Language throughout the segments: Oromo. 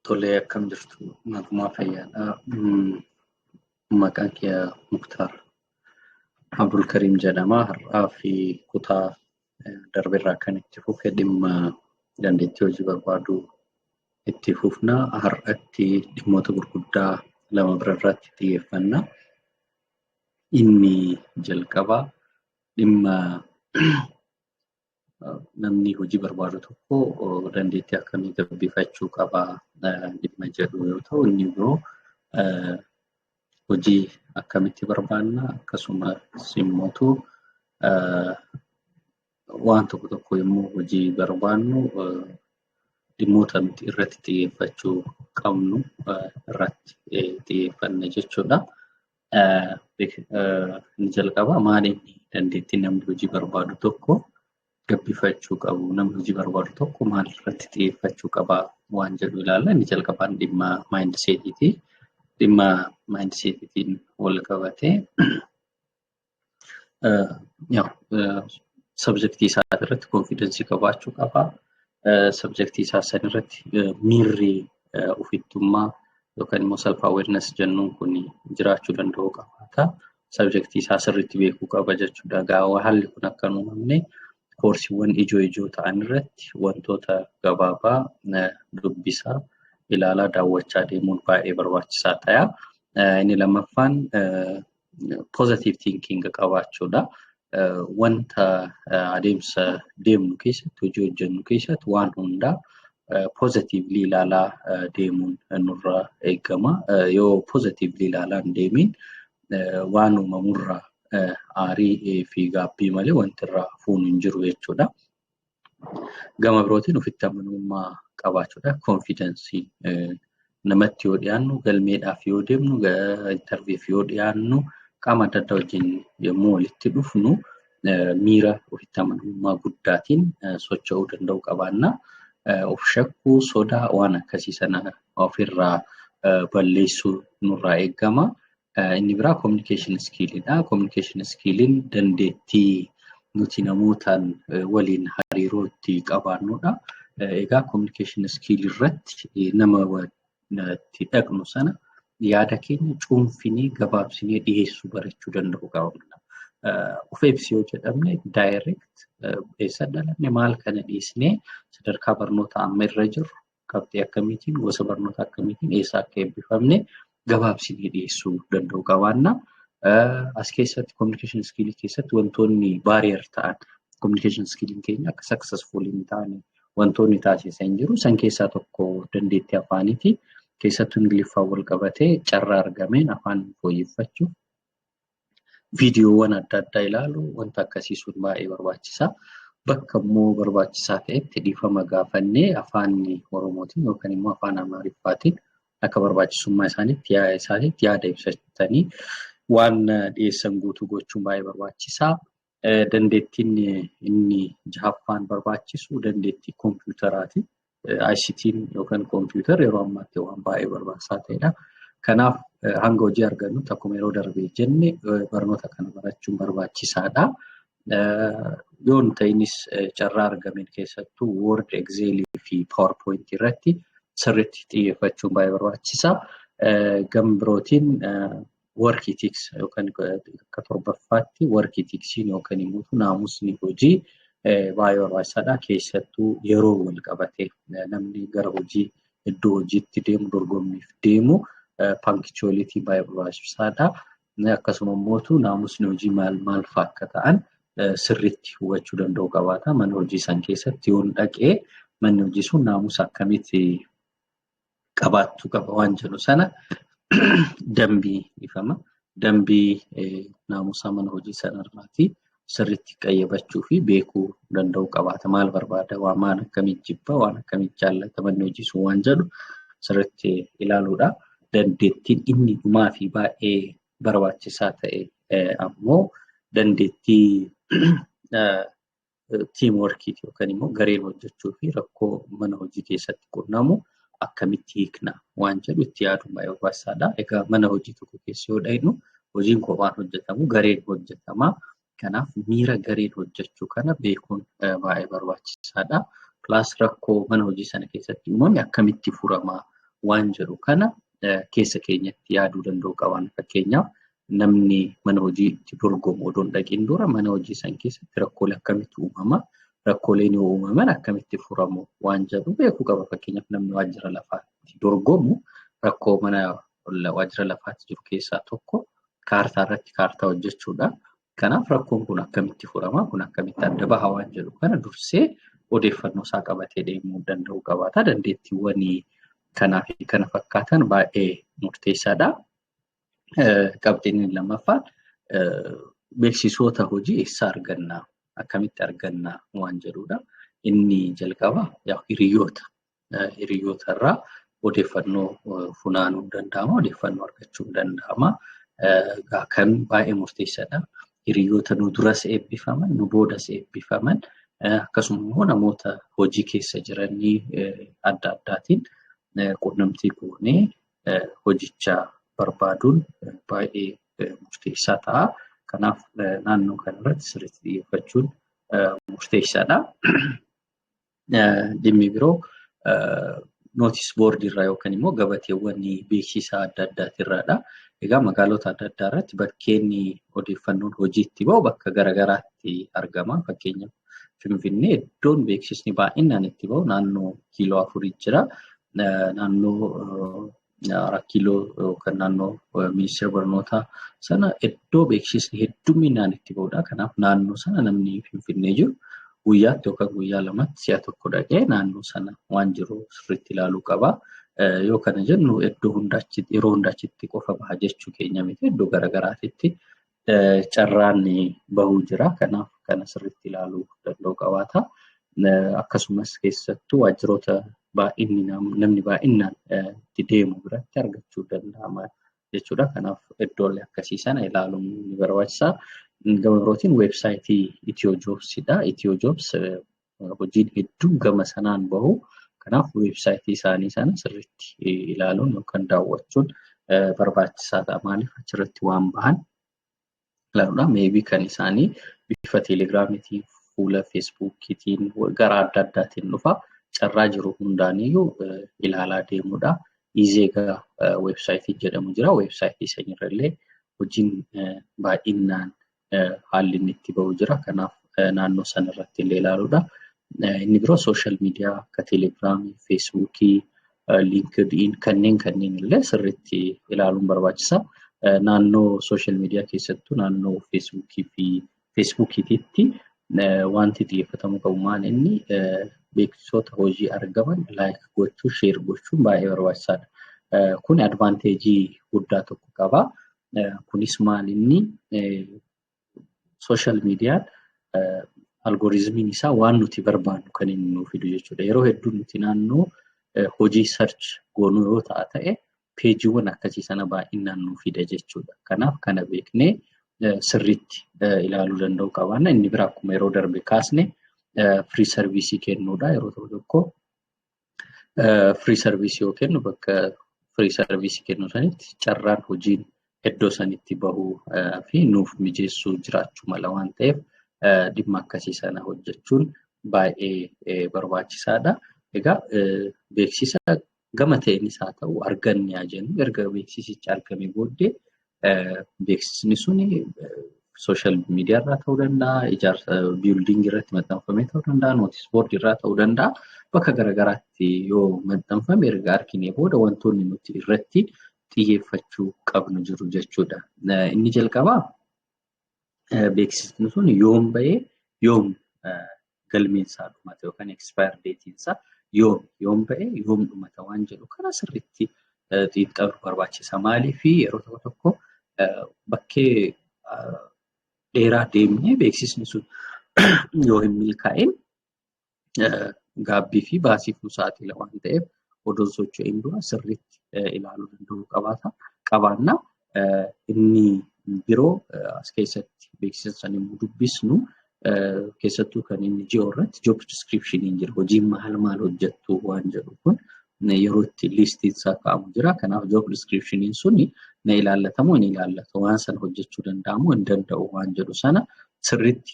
Tolee akkam jirtu nagumaa fayyaadha. Maqaan kiyya Muktaar Abdulkariim jedhama. Har'aa fi kutaa darbe irraa kan itti fufe dhimma dandeettii hojii barbaaduu itti fufna. Har'atti dhimmoota gurguddaa lama bira irratti xiyyeeffanna. Inni jalqabaa dhimma namni hojii barbaadu tokko dandeettii akkamii gabbifachuu qaba dhimma jedhu yoo ta'u inni biroo hojii akkamitti barbaanna akkasumas immoo waan tokko tokko yommuu hojii barbaannu dhimmoota nuti irratti xiyyeeffachuu qabnu irratti xiyyeeffanna jechuudha. Inni jalqabaa maali dandeettiin namni hojii barbaadu tokko gabbifachuu qabu namni hojii barbaadu tokko maal irratti xiyyeeffachuu qaba waan jedhu ilaalla. Inni jalqabaan dhimma maayindiseetiiti. Dhimma maayindiseetiitiin wal qabatee Sabjektii isaa irratti konfidensii qabaachuu qaba. Sabjektii isaa san irratti miirri ofittummaa yookaan immoo self awareness jennuun kun jiraachuu danda'u qabaata. Sabjektii isaa sirriitti beekuu qaba jechuudha. Gaawaa haalli kun akka hin uumamne koorsiiwwan ijoo ijoo ta'an irratti wantoota gabaabaa dubbisaa ilaalaa daawwachaa deemuun baay'ee barbaachisaa ta'a. Inni lammaffaan positive thinking qabaachuudha. Wanta adeemsa deemnu keessatti hojii hojjennu keessatti waan hundaa positively ilaalaa deemuun nurra eegama. Yoo positively ilaalaan deemiin waan uumamurraa aarii fi gaabbii malee wanti irraa fuunu hin jiru jechuudha. Gama birootiin ofitti amanamummaa qabaachuudha. Konfidensii namatti yoo dhiyaannu galmeedhaaf yoo deemnu intarviif yoo dhiyaannu qaama adda addaa wajjin yommuu walitti dhufnu miira ofitti amanamummaa guddaatiin socho'uu danda'uu qabaanna. Of shakkuu sodaa waan akkasii sana ofirraa balleessuu nurraa eegama. Inni biraa communication skill dha. Communication skilliin dandeettii nuti namootaan waliin hariiroo itti qabaannudha. Egaa communication skill irratti nama itti dhaqnu sana yaada keenya cuunfinee gabaabsinee dhiyeessuu barachuu danda'uu qabna. Of ibsi yoo jedhamne direct eessa dhalanne maal kana dhiisnee sadarkaa barnoota amma irra jirru qabxii akkamiitiin gosa barnoota akkamiitiin eessa akka eebbifamne gabaabsinee dhiyeessuu danda'u qabaanna. As keessatti communication skill keessatti wantoonni barrier ta'an communication skill keenya akka successful hin taane wantoonni taasisan jiru. San keessaa tokko dandeettii afaaniiti. Keessattuu Ingiliffaan wal qabatee carraa argameen afaan fooyyeffachuuf viidiyoowwan adda addaa ilaalu wanta akkasii sun baay'ee barbaachisa. Bakka immoo barbaachisaa ta'etti dhiifama gaafannee afaan Oromootiin yookaan immoo afaan Amaariffaatiin akka barbaachisummaa isaaniitti yaa- isaaniitti yaada ibsatanii waan dhiyeessan guutuu gochuun baay'ee barbaachisaa. Dandeettiin inni jahaffaan barbaachisu dandeettii koompiyuutaraati. ICT'n yookaan koompiyuutarri yeroo ammaatti waan baay'ee barbaachisaa ta'edha. Kanaaf hanga hojii argannutti akkuma yeroo darbee jenne barnoota kana barachuun barbaachisaadha. Yoo hin ta'inis carraa argameen keessattuu Word, Excel fi PowerPoint irratti sirriitti xiyyeeffachuun baay'ee barbaachisa. Gama birootiin workii tiksa yookaan akka torbaffaatti workii tiksiin yookaan immoo naamusni hojii baay'ee barbaachisaadha. Keessattuu yeroo wal qabatee namni gara hojii iddoo hojiitti deemu dorgommiif deemu pankchoolitii baay'ee barbaachisaadha. Akkasuma immoo naamusni hojii maal maal fa'a akka ta'an sirriitti hubachuu danda'uu qabaata. Mana hojii san keessatti yoon dhaqee manni hojii sun naamusa akkamitti qabaachuu qaba waan jedhu sana dambii ifama. Dambii naamusaa mana hojii sanarraatii sirriitti qayyabachuu fi beekuu danda'uu qabaata. Maal barbaada? Waan maal akkamii jibba? Waan akkamii jaallata? Manni hojii sun waan jedhu sirriitti ilaaluudha. Dandeettiin inni dhumaa fi baay'ee barbaachisaa ta'e ammoo dandeettii tiim workiiti yookaan immoo gareen hojjechuu fi rakkoo mana hojii keessatti qunnamu akkamitti hiikna waan jedhu itti yaaduun baay'ee barbaachisaadha. Egaa mana hojii tokko keessa yoo dhaqnu hojiin kophaan hojjetamu gareen hojjetama. Kanaaf miira gareen hojjechuu kana beekuun baay'ee barbaachisaadha. Pilaas rakkoo mana hojii sana keessatti uumame akkamitti furama waan jedhu kana keessa keenyatti yaaduu danda'uu qabna. Fakkeenyaaf namni mana hojiitti dorgomu odoo hin dhaqiin dura mana hojii san keessatti rakkoolee akkamitti uumama rakkooleen yoo uumaman akkamitti furamu waan jedhu beekuu qaba fakkeenyaaf namni waajjira lafaatti dorgomu rakkoo mana waajjira lafaatti jiru keessaa tokko kaartaa irratti kaartaa hojjechuudha. Kanaaf rakkoon kun akkamitti furama kun akkamitti adda baha waan jedhu kana dursee odeeffannoo isaa qabatee deemuu danda'uu qabaata dandeettiiwwan kanaa fi kana fakkaatan baay'ee murteessaadha. qabxiin inni lammaffaan beeksisoota hojii eessaa argannaa akkamitti argannaa waan jedhudha. Inni jalqabaa hiriyoota hiriyoota irraa odeeffannoo funaanuun danda'ama odeeffannoo argachuun danda'ama. Kan baay'ee murteessaadha. Hiriyoota nu duras eebbifaman nu boodas eebbifaman akkasuma immoo namoota hojii keessa jiranii adda addaatiin quunnamtii goonee hojichaa barbaaduun baay'ee murteessaa ta'a. Kanaaf naannoo kanarratti sirriitti xiyyeeffachuun murteessaadha. Dhimmi biroo nootis boordii irraa yookaan immoo gabateewwan beeksisaa adda addaati irraadha. Egaa magaalota adda addaa irratti bakkeen odeeffannoon hojiitti ba'u bakka garaagaraatti argama. Fakkeenyaaf Finfinnee iddoon beeksisni baay'inaan itti ba'u naannoo kiiloo afurii jira. naannoo Rakkiiloo yookaan naannoo ministeera barnootaa sana iddoo beeksisni hedduminaan itti ba'udha. Kanaaf naannoo sana namni Finfinnee jiru guyyaatti yookaan guyyaa lamatti si'a tokko dhaqee naannoo sana waan jiru sirriitti ilaaluu qaba. Yoo kana jennu iddoo hundaa yeroo hundaa achitti qofa baha jechuu keenya miti iddoo garaagaraatitti carraan bahuu jira. Kanaaf kana sirriitti ilaaluu danda'uu qabaata. Akkasumas keessattuu waajjiroota baay'inni namni baay'inaan itti deemu biratti argachuu danda'ama jechuudha. Kanaaf iddoolee akkasii sana ilaaluun ni barbaachisa. Gama birootiin weebsaayitii Itiyoo Joobsidha. Itiyoo Joobs hojiin hedduun gama sanaan bahu. Kanaaf weebsaayitii isaanii sana sirriitti ilaaluun yookaan daawwachuun barbaachisaa ta'a. Maaliif achirratti waan bahan ilaaluudha. Meebii kan isaanii bifa teelegiraamiitiin, fuula feesbuukiitiin, gara adda addaatiin dhufa. Carraa jiru hundaaniyyuu ilaalaa deemuudha. Izeegaa weebsaayitiin jedhamu jira. Weebsaayitii sanirra illee hojiin baay'inaan haalli inni itti ba'u jira. Kanaaf naannoo sana irratti illee ilaaluudha. Inni biroo sooshaal miidiyaa akka teelegiraamii, feesbuukii, liinkid'iin kanneen kanneen illee sirriitti ilaaluun barbaachisa. Naannoo sooshaal miidiyaa keessattuu naannoo feesbuukii fi feesbuukiitiitti wanti xiyyeeffatamuu qabu maal inni beeksisoota hojii argaman laayik gochuu, sheer gochuun baay'ee barbaachisaadha. Kun advaanteejii guddaa tokko qaba. Kunis maal inni social media algoritmiin isaa waan nuti barbaannu kan inni nuuf fidu jechuudha. Yeroo hedduu nuti naannoo hojii search goonu yoo ta'a ta'e peejiiwwan akkasii sana baay'inaan nuuf fida jechuudha. Kanaaf kana beeknee sirriitti ilaaluu danda'uu qabaanna. Inni biraa akkuma yeroo darbe kaasne free service kennuudha. Yeroo tokko tokko Firii sarviisii yoo kennu bakka firii sarviisii kennu sanitti carraan hojiin iddoo sanitti bahuu fi nuuf mijeessuu jiraachuu mala waan ta'eef dhimma akkasii sana hojjechuun baay'ee barbaachisaadha. Egaa beeksisa gama ta'eenis haa ta'u arganne haa jennu erga beeksisichi argame booddee Beeksisni sun sooshaal miidiyaa irraa ta'uu danda'a, ijaarsa biildingii irratti maxxanfamee ta'uu danda'a, nootis boordii irraa ta'uu danda'a. Bakka garaagaraatti yoo maxxanfame erga arginee booda wantoonni nuti irratti xiyyeeffachuu qabnu jiru jechuudha. Inni jalqabaa beeksisni sun yoom bahee yoom galmeensaa dhumate yookaan expire deetiinsaa yoom yoom bahee yoom dhumata waan jedhu kana sirriitti xiinxaluu barbaachisa. Maaliif yeroo tokko tokko bakkee dheeraa deemnee beeksisni sun yoo hin milkaa'in gaabbii fi baasiif nu saaxila waan ta'eef odoo hin socho'in dura sirriitti ilaaluu danda'uu qabaata. Qabaanna inni biroo as keessatti beeksisa san immoo dubbisnu keessattuu kan inni ji'oo irratti job description jira hojiin maal maal hojjettu waan jedhu kun yeroo itti liistiin isaa kaa'amu jira. Kanaaf job description suni na ilaallatamoo hin ilaallatu waan sana hojjechuu danda'amoo hin danda'u waan jedhu sana sirriitti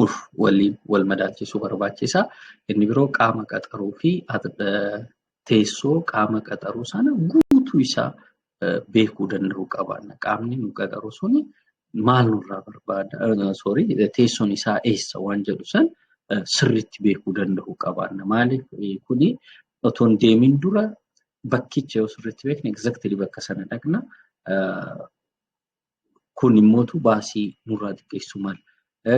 ur waliin wal madaalchisuu barbaachisa. Inni biroo qaama qaxaruu fi teessoo qaama qaxaruu sana guutuu isaa beekuu danda'uu qabaanna. Qaamni nu qaxaru suni maal nurraa barbaada? Sorry, teessoon isaa eessa waan jedhu san sirriitti beekuu danda'uu qabaanna. Maaliif kuni otoo hin deemin dura bakkicha yoo sirriitti beekne exactly bakka sana dhaqna. kun immoo baasii nurraa xiqqeessu mala.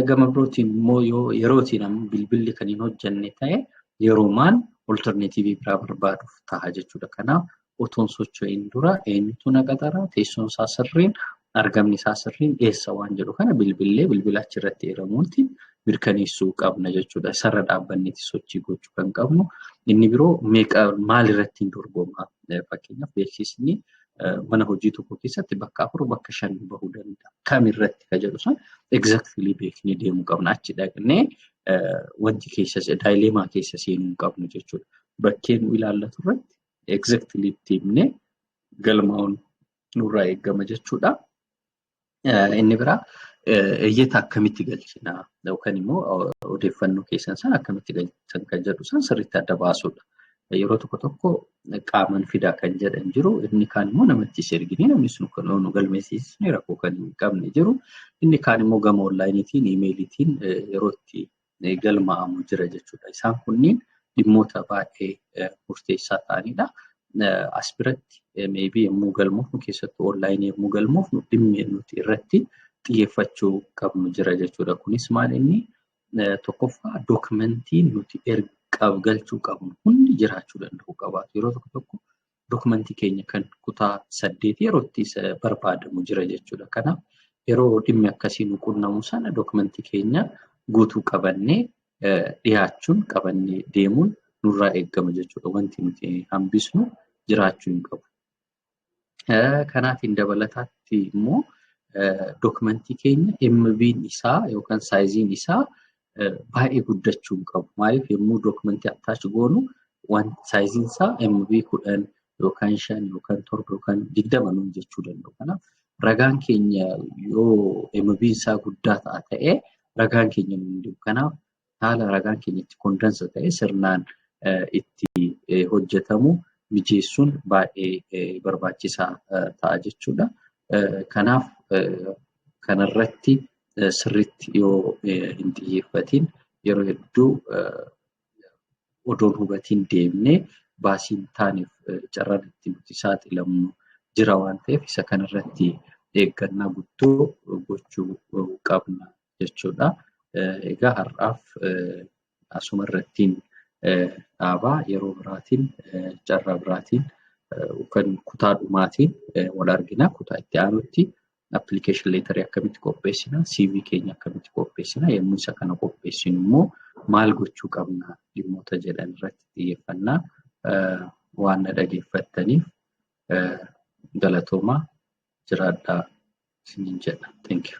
Gama birootiin immoo yoo yerootiin amma bilbilli kan hin hojjenne ta'e yeroomaan olterneetiivii biraa barbaaduuf ta'a jechuudha. Kanaaf otoon socho'iin dura eenyutu na qaxara teessoon isaa sirriin argamni isaa sirriin eessa waan jedhu kana bilbillee bilbila achirratti eeramuutti mirkaneessuu qabna jechuudha. Isarra dhaabbanneeti sochii gochuu kan qabnu. Inni biroo meeqa maalirratti hin dorgomaa? Fakkeenyaaf beeksisni mana hojii tokko keessatti bakka afur bakka shan bahuu danda'a. Kam irratti ka jedhu sun exactly beeknee deemuu qabna. Achi dhaqnee wanti keessa daayileemaa keessa seenuu hin qabnu jechuudha. Bakkee nu ilaallatu irratti exactly itti himnee galmaa'uun nurraa eegama jechuudha. Inni biraa iyyata akkamitti galchina yookaan immoo odeeffannoo keessan sana akkamitti galchan kan jedhu san sirriitti adda baasuudha. Yeroo tokko tokko qaaman fidaa kan jedhan jiru inni kaan immoo namatti ergine namni sun kan nu galmeessisne rakkoo kan hin qabne jiru inni kaan immoo gama onlaayiniitiin iimeeliitiin yeroo itti galmaa'amu jira jechuudha. Isaan kunniin dhimmoota baay'ee murteessaa ta'anidha. As biratti meebii yommuu galmoofnu keessattuu onlaayinii yommuu galmoofnu dhimmi nuti irratti xiyyeeffachuu qabnu jira jechuudha. Kunis maal inni tokkoffaa dookumentii nuti ergaaf galchuu qabnu hundi jiraachuu danda'uu qabaatu. Yeroo tokko tokko dokumentii keenya kan kutaa saddeetii yeroo itti barbaadamu jira jechuudha. Kanaaf yeroo dhimmi akkasii nu qunnamu sana dokumentii keenya guutuu qabannee dhiyaachuun qabannee deemuun nurraa eegama jechuudha. Wanti nuti hambisnu jiraachuu hin qabu. Kanaatiin dabalataatti immoo dokumentii keenya MB'n isaa yookaan saayiziin isaa baay'ee guddachuu hin qabu. Maaliif yommuu dookumentii attaachi goonu waan saayiziin isaa MB kudhan yookaan shan yookaan torba yookaan digdama nuun jechuu danda'u. Kanaaf ragaan keenya yoo MB isaa guddaa ta'a ta'e ragaan keenya nuun deemu. Kanaaf haala ragaan keenya itti kondansa ta'e sirnaan itti hojjetamu mijeessuun baay'ee barbaachisaa ta'a jechuudha. Kanaaf kanarratti sirriitti yoo hin xiyyeeffatiin yeroo hedduu odoon hubatiin deemnee baasiin taaneef carraan itti nuti saaxilamnu jira waan ta'eef isa kanarratti eeggannaa guddoo gochuu qabna jechuudha. Egaa har'aaf asuma irrattiin dhaabaa yeroo biraatiin carraa biraatiin kan kutaa dhumaatiin wal argina kutaa itti aanutti application letter akkamitti qopheessina, CV keenya akkamitti qopheessina, yommuu isa kana qopheessinu immoo maal gochuu qabna dhimmoota jedhan irratti xiyyeeffannaa waan na dhageeffattaniif galatoomaa jiraadhaa isiniin jedha. Thank you.